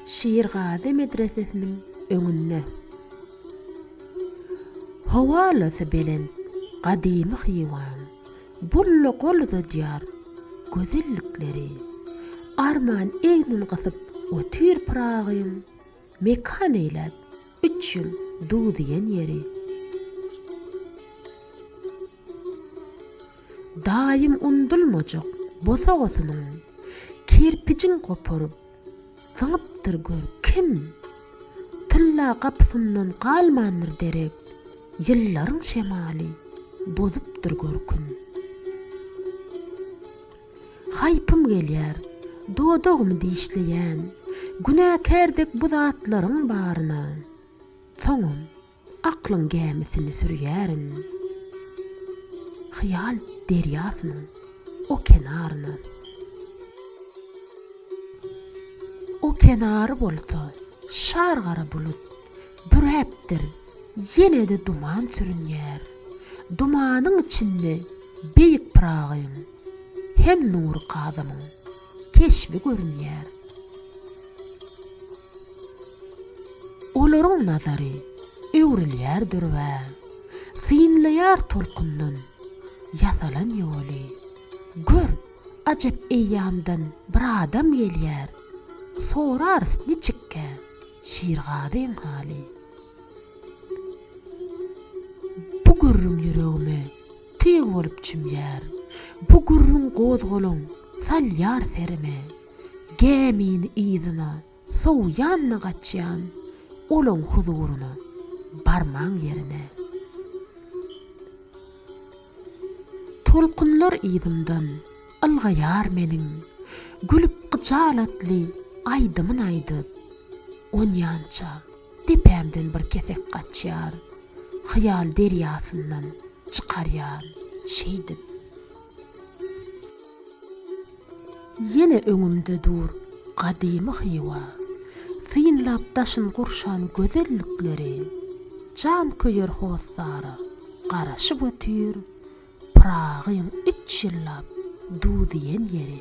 Şirgazy medresesiniň öňünde. Howalasy belent gadymy Hywaň bulla gol uzadýar gözellikleri. Arman egnin gysyp otyr Pyragyň. Mekan eýläp, üç ýyl duw diýen ýeri. Daýym undulmajak bosagasynyň kerpijin goparyp, zyňypdyr gör kim? Tylla gapysyndan galmandyr derek, ýyllaryň şemaly bozupdyr görkün. Haýpym gelýär, dodagymy dişleýän. Günäkär dek bu zatlaryň baryna. Soňam aklyň gämisini sürýärin. Hyýal derýasynyň o kenaryna. O kenary bolsa şar-gara bulut. Büräpdir, ýene-de duman sürünýär. Dumanyň içinde Beýik Pyragyň hem Nury Kazymyň keşbi görünýär. Olaryň nazary öwrülýär dürbä. Synlaýar tolkundan ýasalan ýoly. Gör, ajap eýýamdan bir adam gelýär. Sorarys niçikkä? Şirgazyň haly. Bu gürrüň ýüregime tyg bolup çümýär. Bu gürrüň gozgalaň salýar serime. Gämini yzyna sowýanmy gaçýan, olaň huzuryna, barman ýerine. Tolkunlar yzymdan ylgaýar meniň, Gülüp gyjalatly aýdymyn aýdyp. Onýança depämden bir kesek gaçýar, Hyýal derýasyndan çykarýan şeýdip. Ýene öňümde dur gadymy Hywa. Synlap daşyn gurşan gözellikleri, Jan köýer hossara garaşyp otyr, Pyragyň üç ýyllap du diýen ýeri.